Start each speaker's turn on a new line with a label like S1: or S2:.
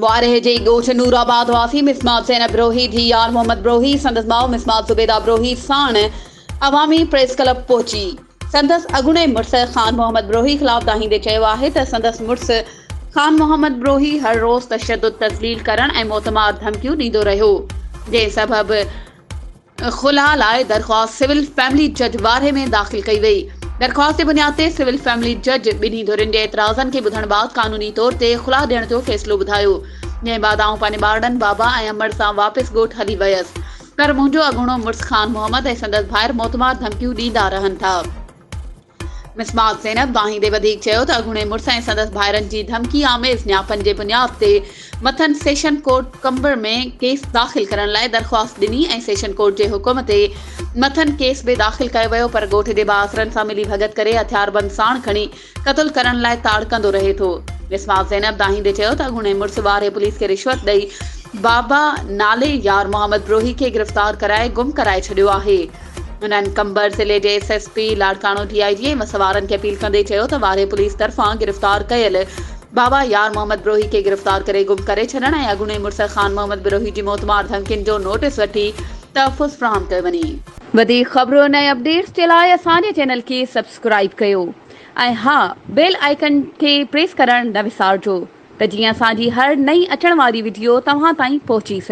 S1: وارهه جي ڳوٺ نور آباد واسي مصمات زينب بروهي ڌيء يار محمد بروهي سندس ماء مصمات زبيده بروهي ساڻ عوامي پريس ڪلب پهچي سندس اڳوڻي مڙس خان محمد بروهي خلاف دانهيندي چيو آهي ته سندس مڙس خان محمد بروهي هر روز تشدد تذليل ڪرڻ ۽ موتمار ڌمڪيون ڏيندو رهيو جنهن سبب خلع لاء درخواست سول فيملي جج وارهي ۾ داخل ڪئي وئي. درخواست جي بنياد تي سول فيملي جج ٻنهي ڌرين جي اعتراضن کي ٻڌڻ بعد قانوني طور تي خلع ڏيڻ جو فيصلو ٻڌايو. جنهن بعد آئون پنهنجي ٻارڙن بابا ۽ امڙ سان واپس ڳوٺ هلي ويس. پر منهنجو اڳوڻو مڙس خان محمد ۽ سندس ڀائر موتمار ڌمڪيون ڏيندا رهن ٿا. مصباح زينب واهيندي وڌيڪ چيو ته اڳوڻي مڙس ۽ سندس ڀائرن جي ڌمڪي آميز نياپن جي بنياد تي مٿن سيشن ڪورٽ قمبر ۾ ڪيس داخل ڪرڻ لاء درخواست ڏني ۽ سيشن ڪورٽ جي حڪم تي مٿن ڪيس به داخل ڪيو ويو پر ڳوٺ جي بااثرن سان ملي ڀڳت ڪري هٿياربند ساڻ کڻي قتل ڪرڻ لاء تاڙڪندو رهي ٿو مصباح زينب دانهيندي چيو ته اڳوڻي مڙس وارهي پوليس کي رشوت ڏئي بابا نالي يار محمد بروهي کي گرفتار ڪرائي گم ڪرائي ڇڏيو آهي. انهن قمبر ضلعي جي S S P Larkana D I G ۽ وسوارن کي اپيل ڪندي چيو ته وارهي پوليس طرفان گرفتار ڪيل بابا يار محمد بروهي کي گرفتار ڪري گم ڪري ڇڏڻ ۽ اڳوڻي مڙس خان محمد بروهي جي موتمار ڌمڪين جو نوٽيس وٺي تحفظ فراهم ڪيو وڃي. وڌيڪ خبرن ۽ اپڊيٽس جي لاء اسان جي چينل کي سبسڪرائيب ڪيو ۽ ها بيل آئيڪن کي پريس ڪرڻ نه وسارجو ته جيئن اسان جي هر نئين اچڻ واري وڊيو توهان تائين پهچي سگهي.